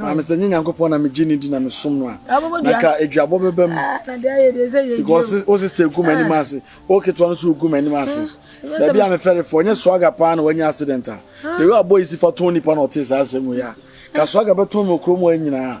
Maame sɛ nye Nyankopɔn na megye no di na mesom no a, na ka aduabɔ bɛba mu. Because wo sister gu m'anim ase, wo ketewa no nso regu m'anim ase. Baabi a mefɛre fo, ɛnyɛ Swagger paa na wanya accident a. The way a boy yi si fa tɔn nnipa na ɔtee saa asɛm wei a, ka Swagger bɛtɔn me wɔ kurom hɔ nyinaa.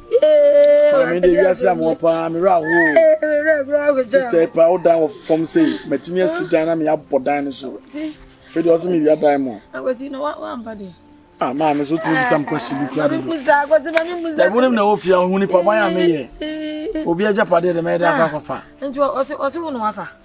Maame de wiase a mewɔ paa me werɛ ahoɔ sister yi paa wo dan wɔ fam sei matumi asi dan na meyɛabɔ dan no so fei deɛ ɔse mewia dan mu a maame so tumi bisa m question bi kura dodo wonim na wɔfie a ɔhu nipa ban a meyɛ obi agyapadeɛ dɛ mɛyɛ dɛ akɔ akɔfa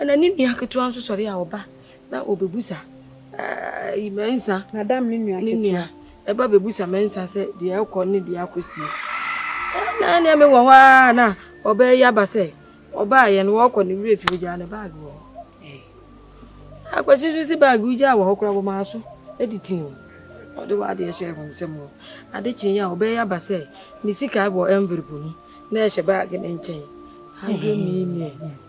Ɛnna ne nua ketewa nso sɔre a ɔba na ɔbɛbusa ɛɛ Mɛnsa. Madam ne nua ketewa. Ne nua ɛba bɛbusa Mɛnsa sɛ deɛ ɛkɔ ne deɛ akɔsi. Ɛnna ɛnna me wɔ hɔ ara na ɔbɛyɛ aba sɛ ɔbaa yɛn wɔkɔ ne werɛ fi ogyaa ne baage wɔ hɔ. Akwasi nso si baage ogyaa wɔ hɔ koraa wɔ maa so de tii o. Ɔde wɔ adeɛ hyɛ wɔn nsam o. Ade kye yɛ a ɔbɛyɛ aba sɛ ne sika wɔ envelope mu na ɛhyɛ baage ne nkyɛn. Hundred million.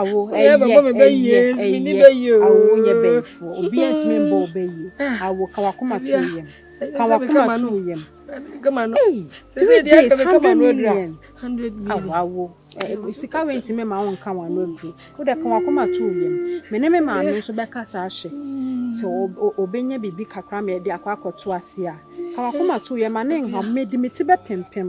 awo ɛyɛ ɛyɛ ɛyɛ awo nyɛ bɛyifoɔ obi a ntumi mbɔ wo bɛyie awo ka wakoma to yam ka wakoma to yam ee three days hundred million awo awo ɛɛ sika wei ntumi ma wo nka wɔn ano aduro wo dɛ ka wakoma to yam me ne me maame nso bɛka saa hyɛ sɛ ɔbɛnya biribi kakra ma yɛde akɔ akɔto ase a ka wakoma to yam ma ne nha mɛ di me ti bɛ pempem.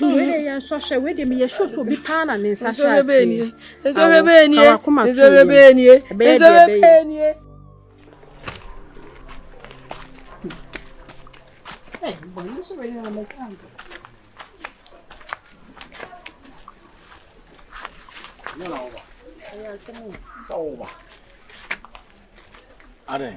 Wei deɛ yɛn nsɔ hwɛ wei deɛ meyɛ sure sɛ obi paa na ne nsa hyɛ aseɛ nsɔhwɛ bɛyɛ nie nsɔhwɛ bɛyɛ nie nsɔhwɛ bɛyɛ nie Adɛn?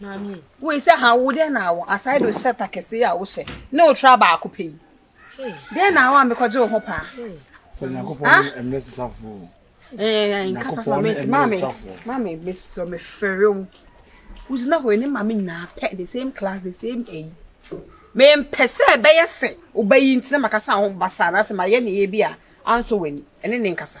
Maame yi. Wei sɛ ha wo dɛn na awɔ aside o hyɛ ta kɛse a wo hyɛ ne o tra baako pɛ yi. Dɛn na awɔ ambekɔgye wo ho paa. Sɛ Nyankopɔn ne mmerɛ sesafo. Ɛɛ nkasa fa me maame maame me sɔ me fɛre wo. Wogyina hɔ ne maame nyinaa pɛ the same class the same ɛyi. Me mpɛ sɛ ɛbɛyɛ sɛ ɔbɛyi ntina makasa ho basa na sɛ mayɛ ne yɛ bi a anso w'ani ɛne ne nkasa.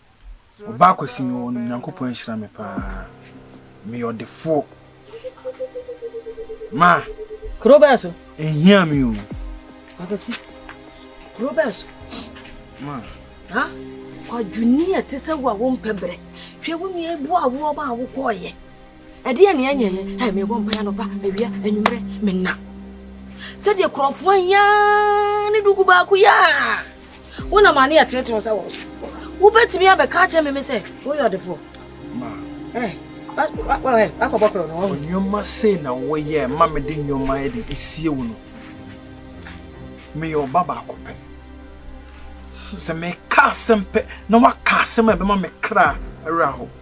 Obaa Kwasi me wɔ no Nyankopɔn ahyira me paa. Me yɛ ɔdefoɔ. Ma. Kuro bɛɛ so. Ehia me o. Babasi. Kuro bɛɛ so. Ma. Ha? Kwadwoni a ɛte sɛ wo a wompɛ brɛ. Hwɛ wo nua ebu awoɔ ma a wokɔɔyɛ. Ɛdeɛn ne ɛnyɛ yɛ? Hɛ, mebɔ mpaeɛ anɔpa, awia, anwummerɛ, menna. Sɛdeɛ kurɔfoɔ ayaa ne duku baako yɛ a, wonam ane ɛtenetene wo nsa wɔ so. Wobɛtumi abɛka akyerɛ me me sɛ woyɛ ɔdefoɔ. Wakɔbɔ korɔ no. Nneɛma sei na woyɛ ma mede nneɛma de esie wo no. Meyɛ ɔba baako pɛ. Sɛ meka asɛm pɛ na waka asɛm a ɛbɛma me kra awerɛ aho.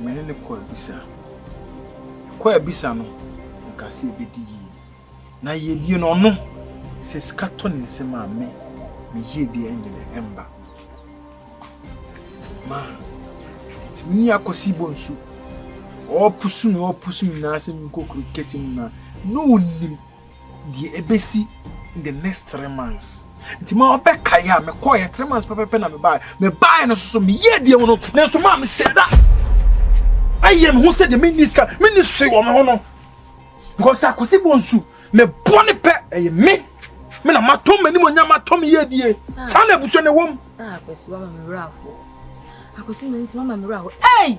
Me ne no kɔɔ abisa. Yɛkɔɔ abisa no, ɔkaa sɛ yɛbɛdi yie. Na yɛdie no, ɔno, sɛ sika tɔ ne nsam a, me, me yie deɛ ɛnnyɛ dɛ, ɛmba. Ma, nti me ne Akwasi bɔ nsu. Ɔɔpusu me, ɔɔpusu me nan ase, me nkokurokɛse mu no a, na ɔnnim. Deɛ ɛbɛsi in the next three months nti ma ɔbɛkaeɛ a mekɔeɛ three months pɛpɛpɛ na mebaeɛ mebaeɛ no soso meyɛɛ deɛ mu no nanso maa mehyɛ da ayɛ me ho sɛ deɛ menni sika menni hwee wɔ me ho no because akosi bɔ nsu mebɔ ne pɛ ɛyɛ me me na matɔ m'anim ɔnya matɔ me yɛ die saa na abusua na ɛwɔ mu. akosi mama me werɛ afoɔ akosi mama me werɛ afoɔ ɛy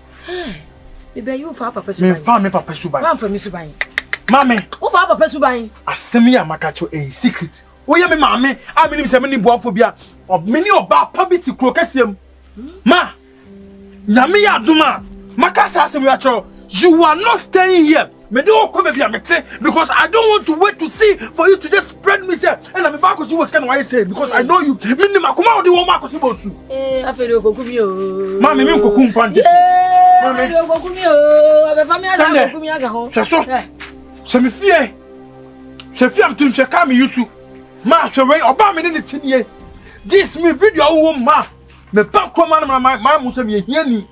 Hey, me bɛyi wo fa papa suban. Me fa me papa suban. Wa fa me suban. Mame. Wo fa papa suban. Asɛm yi a maka kyerɛ ɛyɛ secret. Woyɛ me maame a menim sɛ mene boafo bi a mene ɔbaa pa bi te kuro kɛseɛ mu. Ma, nyame yɛ adom a maka saa asɛm yi akyerɛ you are not staying here. Me de wo kɔ baabi a mete because I don't want to wait to see for you to just spread me sɛ ɛna me ba akɔsi wɔ sika na wayɛ sɛ because I know you me nim akoma wo de wɔn akɔsi bɔ nsu. Ee afei de okoku mi oo. Maa mi mi nkoku nfa nti. Yee afei de okoku mi oo abɛfa mi asa okoku mi aga ho. Hwɛ so hwɛ mi fie hwɛ fie amutum hwɛ kaa mi yusu maa hwɛ wei ɔbaa mi ne ne ti nie dis mi video awo wo maa mɛ ba kuroma no ma ma mu sɛ mi ehia ni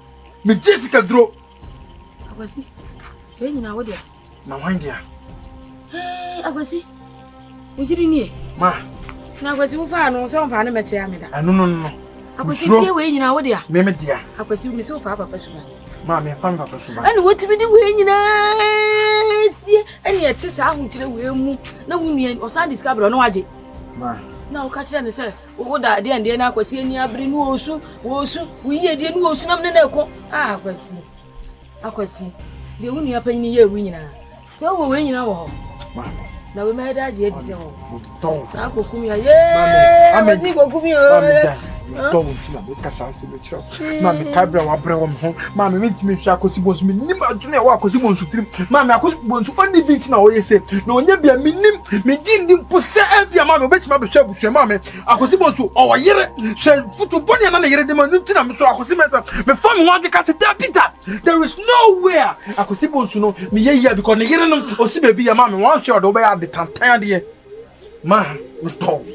mi gye sika duro. Akwasi, yɛn nyinaa wo deɛ. Na wɔn deɛ. Ee, Akwasi, wo gyiri nie. Ma. Na Akwasi wo faa no sɛ ɔmfaa ne mɛkyɛ ya me da. Ɛno no no. Akwasi fie wei nyinaa wo deɛ. Me me deɛ. Akwasi wo mesɛ wofaa papa suba. Ma me fa me papa suba. Ɛna wotumi de wei nyinaa sie ɛne ɛte saa ahokyerɛ wei mu na wo nua ɔsan de sika brɛ ɔno agye. Ma. Na woka kyerɛ ne sɛ Woda adeɛ ndeɛ na akwasi ani abere ne ɔsu ɔsu wo yiedie ne ɔsu nam ne na ɛko a akwasi akwasi deɛ wo nua panyin yɛ ewu nyinaa sɛ wowɔ wei nyinaa wɔ hɔ na wei mɛyɛ de agye adi sɛ wɔ hɔ na akɔkum ya yee wɔsi kɔkum ya oo Mekyerɛ wo, maame kae berɛ a wabrɛ wɔ me ho. Maame mentumi nhwɛ Akosi Bonsu, mennim adwene a ɛwɔ Akosi Bonsu tirim. Maame Akosi Bonsu ɔnni bi nti na ɔyɛ sei, na ɔnyɛ bi a mennim. Megye nni mpo sɛ ebia maame ɔbɛtumi abɛhwɛ abusua. Maame Akosi Bonsu ɔwɔ yere, hwɛ foto bɔne a na ne yere de ma no nti na me nso Akosi Mensah mefa me ho akeka sɛ dabi da, there is no way a Akosi Bonsu no meyɛ yie a because ne yere no ɔsi baabi yɛ. Maame wanhwɛ ɔde wobɛyɛ ade tantan adeɛ ma metɔ wo.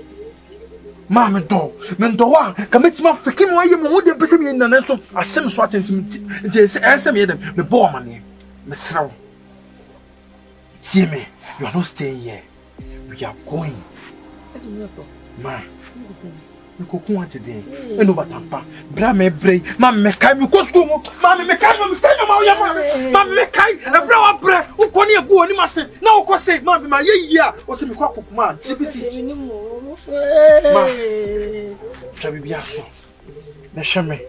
maa me dɔ me dɔ a ka mɛtumi afeke mu ayɛ mu ho deɛ mpɛ sɛ meyɛ nyina nanso ahyɛ me so atɛnti nti nti ɛyɛ sɛ meyɛ dɛm mebɔ wo amaneɛ mesrɛ wo tie me you are not staying here we are going ma mekɔku agye den ɛno batampa bra me brɛ yi ma me mɛkae me kɔ sukuu mu ma me mɛkae ma mɛkae nneɛma woyɛ ma me ma me mɛkae ɛberɛ a wabrɛ wokɔ ne ɛgu w'anim ase na wokɔ se ma me ma yɛ yie a ɔsɛ mekɔ akoko ma gyibiti ma twa biribi aso na hwɛ me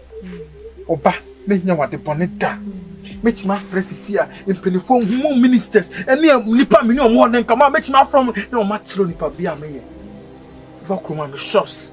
ɔba mɛnya wade bɔne da mɛtumi afrɛ sisi a mpanimfoɔ nhumu ministers ɛne nnipa me ne ɔmo wɔ ne nkama mɛtumi afrɛ mo na ɔmo akyerɛ nipa bi a meyɛ wobɛkɔ mu a me shops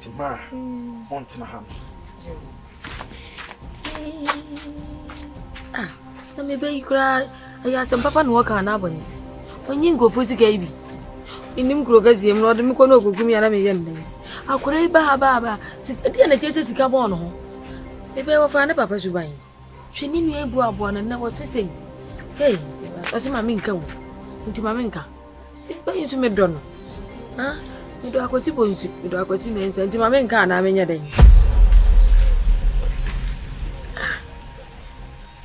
Timara, montena ha no. Ah, na mebɛyi koraa ɛyɛ asɛm papa na wɔka anaa bɔne ɔnyi nkurɔfoɔ sika yi bi menim kuro kɛseɛ mu na ɔde me kɔ na ɔkɔkum yɛ na meyɛ nnɛn akora yi baabaaba sika deɛ na kyɛ sɛ sika bɔɔ no ho mebɛyɛ wɔfaa ne papa suban hwɛ ne nua egu aboa no na wɔsi sɛ hey ɔsi maame nka wo nti maame nka bɛyi nso medɔ no ha medɔ akwasi bɔ nsu medɔ akwasi mɛnsa nti maame nka anaa menyɛ dɛn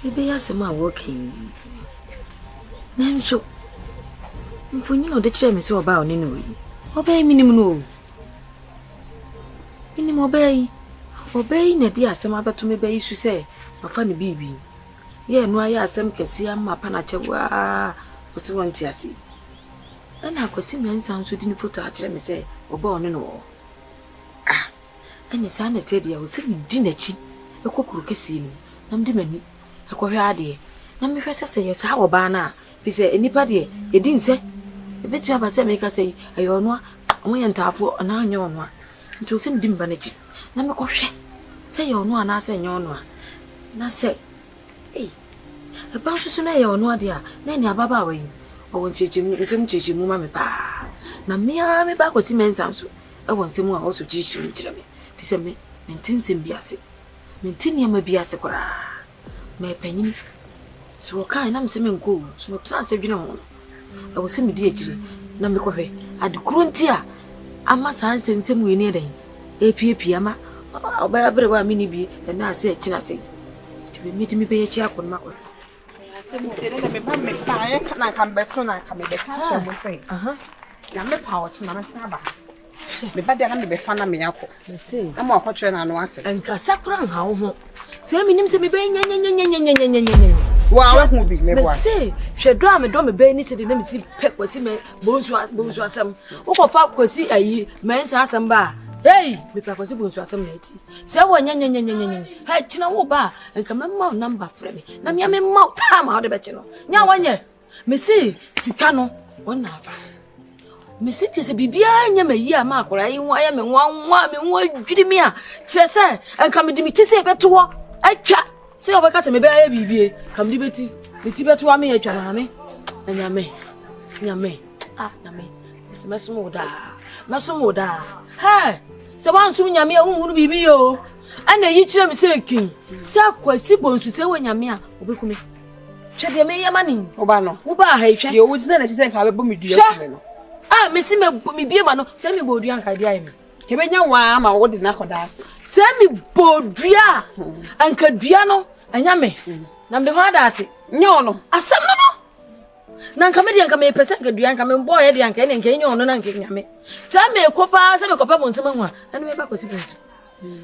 ɛbɛyɛ ah, asɛm a wɔka yi nanso mfonyin a ɔde kyerɛ me sɛ ɔbaa ɔne no yi ɔbɛyɛ menim no o Menim ɔbaa yi. Ɔbaa yi na ɛde asɛm abɛto me ba yi so sɛ wafa no biribi. Yɛ ɛno ayɛ asɛm kɛseɛ ama apa no akyɛ waa ɔse wɔnte aseɛ. Ɛna Akwasi Mensah nso de ne foto akyerɛ me sɛ ɔbaa ɔne no wɔ hɔ. Ah, ɛne saa na ɛteɛ deɛ o sɛ medi n'akyi ɛkɔ kuro kɛseɛ no mu na mede m'ani ɛkɔhwɛ adeɛ na mehwɛ sɛ sɛ yɛ saa ɔbaa no a Efisɛ nnipa deɛ, edi nsɛ. Ebetumi aba sɛ meka sɛ, 'Ɛyɛ ɔno a, wɔyɛ ntaafoɔ, anaa 'Ɛnyɛ ɔno a. Enti ɛwɔ sɛ midi me ba no akyi, na mekɔhwɛ sɛ ɛyɛ ɔno a anaasɛ ɛnyɛ ɔno a. Na sɛ, ei, ɛba nso so na ɛyɛ ɔno a deɛ a, na ɛnneɛ ababaawa yi, ɔwɔ nkyerɛkyerɛmu, nsɛm mu nkyerɛkyerɛmu ma me paa. Na me ara me ba Akwasi Mensah nso wɔ nsɛm mu a ɔwɔ so kyerɛkyerɛ mu kyerɛ me, efisɛ me, mente nsɛm bi ase. Mente nneɛma bi ase koraa. meyɛ panyin. Sɛ wɔkae na mise menkɔ o, nso metraa ase dwenee ho no, ɛwɔ sɛ midi akyiri na mekɔhwɛ ade koro nti a ama saa nsɛmnsɛm wei no yɛ dɛn apiapia ma ɔbɛyɛ aberewa a menni bie ɛna ase akyina ase nti wei mede mebɛyɛ akyi akɔ no makɔ asɛm sɛ ne na meba mebaeɛ ka na nka mebɛto na nka mebɛka kyerɛ mo sɛ na mepa ɔkye na mɛsan aba ha meba deɛ na mebɛfa na meakɔ na mo akɔkyerɛ no ano asɛm nkasa kora nha wo ho sɛ menim sɛ mebɛyɛ nyanyanyanyanyanyanyanyanya wɔ a wohu bi meboa mese hwɛ dɔ a medɔ mebɛyɛ ne sɛdeɛ na mesi pɛ kwasi mɛ bonsu asɛm wokɔfa kwasi ayi mɛnsa asɛm ba a hei mepɛ kwasi bonsu asɛm na ati sɛ wɔ nyanyanyanyanyanya hɛ kyena wo ba a nka mɛma wo namba frɛ me na mea mema wo time a wode bɛkye no nya wanyɛ Mesi sika no wɔn na afa. Mesi kyerɛ sɛ biribiara nyɛ ma yi a ma akwadaa yi ho ayɛ me nwanwa me ho adwiri me a kyerɛ sɛ nka mede me ti sɛ ɛbɛto hɔ atwa sɛ wɔbɛka sɛ mebɛyɛ biribie ka mede bɛti me ti bɛto ame atwa maame na nyame nyame a ah, nyame mesi mɛsom wo daa mɛsom wo daa hɛ sɛ woansom nyame a wonhunu biribi yɛ o ɛna yi kyerɛ me sɛ kin sɛ akwasi bonsu sɛ wɔ nyame a wɔbɛku me hwɛ deɛ meyɛ ma ne yi woba no wobaa ha yi hwɛ deɛ wogyina n'akyi sɛ nka bɛbɔ me dua kume no a mese mebie ma no sɛ mebɔ dua nka de ayɛ me yɛbɛnya waa ama wode no akɔda ase sɛ mebɔ dua a hmm. anka dua no ɛnya me hmm. na mede ho ada ase nyɛ wo no asɛm no no na nka me deɛ nka mepɛ sɛ nka dua nka mebɔɔyɛ deɛ anka ɛne nka ɛnyɛ ɔno na nka ɛnya me sɛ mekɔ paa sɛ mekɔpɛ mo nsɛm ahu a ɛno meba kɔsi pɛ so hmm.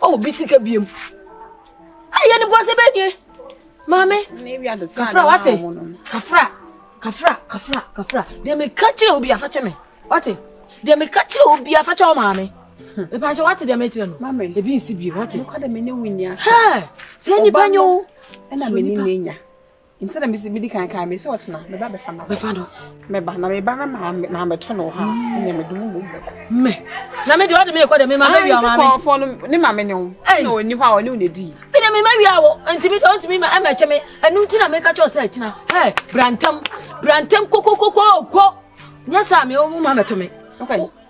Oh, obi sika biem. Ayi ɛni bu ase bɛ nie. Maame, kafra wate, kafra, kafra, kafra, kafra. Deɛ mi ka kyerɛ obi afa kyɛ mi, wate. Deɛ mi ka kyerɛ obi afa kyɛ ɔmaame. Epa sɛ wate deɛ mi kyerɛ no. Maame, ebi nsi biem, wate. Mo kɔ de mi ni wunya. Hɛ, sɛ nipa nyo. Ɛna mi ni mi nya. Nti na mesi medi kan kan me sɛ ɔkyena meba bɛfa no bɛfa no meba na meba na ma ma bɛto no ha ɛnyɛ me dum mu me na me de ɔde me kɔ de me ma me wia ma me kɔfɔ no ne ma me ne wo na ɔni hɔ a ɔne wo na di me de me ma wia wo nti me ɔnti me ma ɛmɛ kyɛ me ɛnu nti na me ka kyɛ ɔsɛ ɛkyena hɛ brantam brantam kokokoko kɔ nyɛ sɛ me wo ma bɛto me okay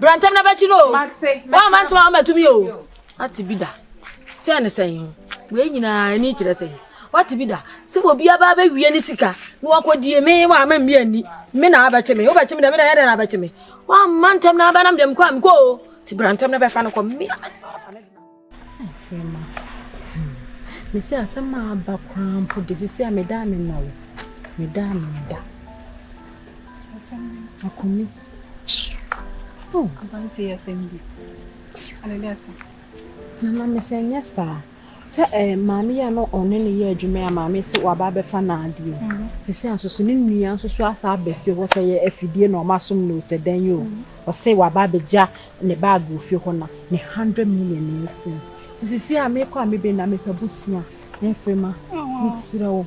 Bra ntɛm na bɛkyi no o. Wɔn a mante wɔn ama tumi o. Ate bi da. Sɛ ne sɛn ho. Wei nyinaa ani kyerɛ sɛn. Wate bi da. Sɛ obi aba abɛwie ne sika na wakɔdie me wɔ ama mmea ni. Me na abɛkye me. Wobɛkye me dɛ me na ɛyɛ dɛ na abɛkye me. Wɔn a mantɛm na abɛnam dɛm kɔ a mekɔ o. Ti bra ntɛm na bɛfa no kɔ. Me a mɛde no afa no. Afrima, hmm, mese asɛm a aba koraa mpo de, sisi a meda a mema wo, meda a meda. Asɛm bi. Akumi. Oh. Abante yɛ asɛm bi. Adede asɛm. Nana mese nyɛ saa. Sɛ eh, maame yɛ no ɔne ne yɛ adwuma a maame sɛ waba abɛfa n'adeɛ. Mhm. Sisi a nsoso ne nua nsoso asa abɛfie hɔ sɛ yɛ afidie na ɔma som no sɛ dɛn yi o. Mhm. Ɔse waba abɛgya ne bag wɔ fie hɔ na ne hundred million na ɛyɛ fɛ nti sisi a mekɔ a mebe na mepɛ bosea mfiri ma mesrɛ wo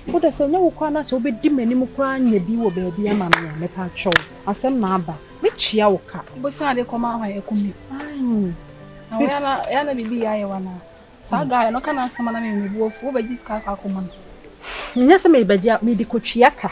wo de sɛ nyɛ wo koraa na sɛ wobɛdi m'anim koraa nyɛ bi wɔ baabi ama me a mepɛ atwɛ wo asɛm na aba metua wo ka bosea de kɔma ahɔ yɛ kumi na wo yana yana bibi yɛ ayɛ wana saa guy no kana asɛm na me mebu afu wobɛgye sika akɔ akɔma no menyɛ sɛ mebɛgye mede kɔtua ka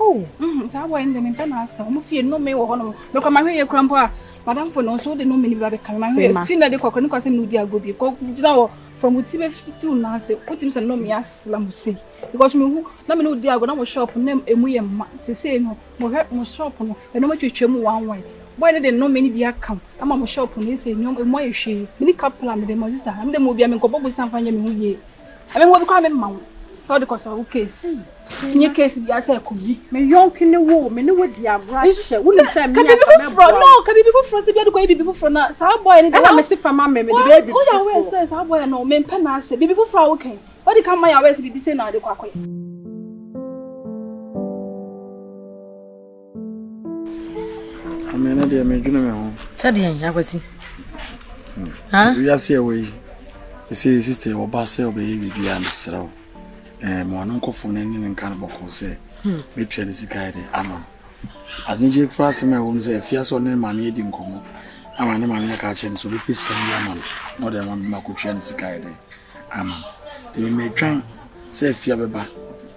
Oh mm saa boy no de mempɛ n'asɛm ɔmo fie nnome wɔ hɔ nom mekɔ mahwɛ yɛ kura mpo a madamfo no nso wode nnome no bi abɛka me mahwɛ yɛ fi na de kɔkora ne kwasɛm ne wodi agorɔ bi kɔ gyina hɔ from wo ti bɛfiti wo nan ase wotumi sɛ nnome asla mo sei because mehu na me ne wodi agorɔ na mo shop na emu yɛ mma sesei no mohwɛ mo shop no ɛnɔma twatwa mu one one boy no de nnome no bi aka m ama mo shop no ɛsɛ nneɛma emu ayɛ hwee mene kapla mede mo sista na mede mo bia menkɔbɔ bosa mfa nyɛ me ho yie ɛmɛ ho bi koraa memma wo sɛ wode kɔsɔ wo case Nye case bia sɛ kobi me yɔnke ne wo me ne wo di agorɔ ahyɛ wo nim sɛ me aka mɛ bɔ no ka bibi foforɔ sɛ biade kɔ yɛ bibi foforɔ na saa bɔyɛ ne de ɛna me se fa ma me me de bɛyɛ bibi foforɔ woyɛ awɛ sɛ saa bɔyɛ no me mpɛ na asɛ bibi foforɔ a wo kan wadi ka ma yɛ awɛ sɛ bibi sɛ na ade kɔ akɔyɛ Ame no deɛ medwene me ho. Sɛdeɛ akwasi. Wiase ɛwɔ yi, ɛsɛ sista ɛwɔ ba sɛ ɔbɛyɛ biribiara no serɛ wo. Ma ɔno nkɔfo no ne ne nka no bɔkɔ sɛ mɛtua hmm. ne sika yɛ de ama no. Asenegye fura asɛm a ɛwɔ mu sɛ afia sɛ ɔne maame adi nkɔmmɔ ama ne maame aka akyerɛ no sɛ ɔbɛpɛ sika bi ama no na ɔde ama me makɔtua ne sika yɛ de ama no. Nti mɛtwan sɛ afia bɛba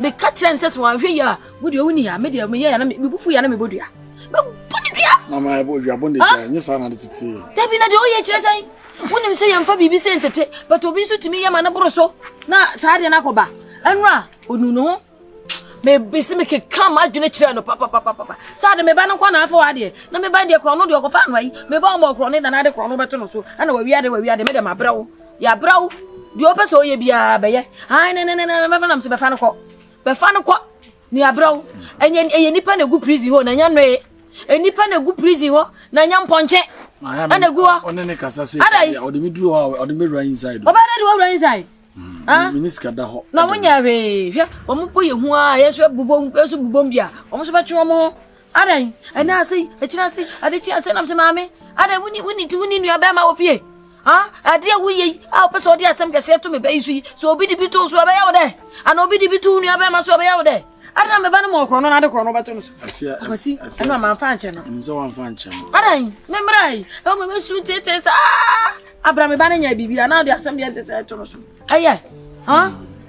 Meka kyerɛ no sɛ sɛ wanhwɛ yie a wo deɛ woni a me deɛ meyɛ ya na me bufu ya na mebɔ dua. Mebɔ ne dua. Mama ɛbɔ dua bɔ ne dua nyɛ saa na de tete. Dabi na deɛ woyɛ kyerɛ sɛ wonim sɛ yɛmfa biribi sɛ ntete but obi nso tumi yɛ ma no boro so na saa deɛ no akɔba ɛno a ɔnu ne ho mebisi mekeka m'adwene kyerɛ no papapapapa saa de meba no nkɔ na afa wadeɛ na meba deɛ korɔ no deɛ ɔkɔfa anoa yi meba ɔma ɔkorɔ ne nana de korɔ no bɛto no so ɛna wawia de wawia de me deɛ mabrɛ wo Yɛabra wo. Deɛ wopɛ sɛ woyɛ biara bɛyɛ. Ae ne ne ne ne mɛfa nam so bɛfa no kɔ. Bɛfa no kɔ. Ne yɛabra wo. Ɛnyɛ ɛyɛ nipa na egu prison hɔ na ɛnyɛ nnoe. Nipa na egu prison hɔ na ɛnyɛ mpɔnkye. Ɛna egu hɔ. Ɔne ne kasa sɛ sɛ ɔde me duro hɔ a ɔde me wura inside. Ɔbɛyɛ dɛ de wura inside. Ah. Mini sika da hɔ. Na wɔn nyɛ hwee. Hwɛ wɔn mpo yɛ hu a yɛn nso bubom yɛn nso bubom bi a wɔn nso bɛtwe wɔn ho. Adɛn, ɛnnɛ ase yi, akyiri ase yi, ade kye ase nam sɛ maame, adɛn woni woni ti woni nua bɛrima wɔ fie? Ha, ade a woyɛ yi a wopɛ sɛ ɔde asɛm kɛseɛ to me bɛ yi so yi, sɛ obi de bi too so ɛbɛyɛ wo dɛ? Ana obi de bi too nua bɛrima so ɛbɛyɛ wo dɛ? Ade na me ba no ma ɔkorɔ no na ade korɔ no wobɛto no so. Akwasi, ɛno a mamfa ankyɛ no. Ɛno sɛ wamfa ankyɛ no. Adɛn, me mmra yi, ɛwɔ me mɛsu tetee saa. Abra me ba no nyɛ biribi a na ɔde asɛm deɛ ɛte sɛ ɛto no so. ɛyɛ hɔn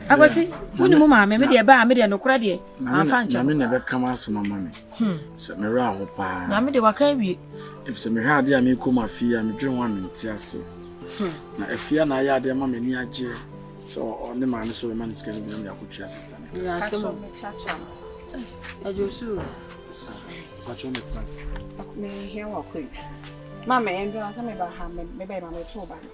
akwasi wone mu maame me deɛ ɛbaa me deɛ nokorɛ deɛ amfa nkyɛ nyame na ɛbɛka m asɛm ama me hmm. sɛ merɛ aho paa nyame deɛ waka awie ɛfisɛ mehwɛ adeɛ a mekɔ mu afei a medwene ho a mente ase hmm. na afie a na ayɛ adeɛ ma m'ani agyeɛ sɛ ɔne maame sɛ ɔbɛma no sika no binam de akɔtua sista no Patrão me traz. Me reencontro. Mama, é engraçado me barrar, me bem, mas eu sou barrar.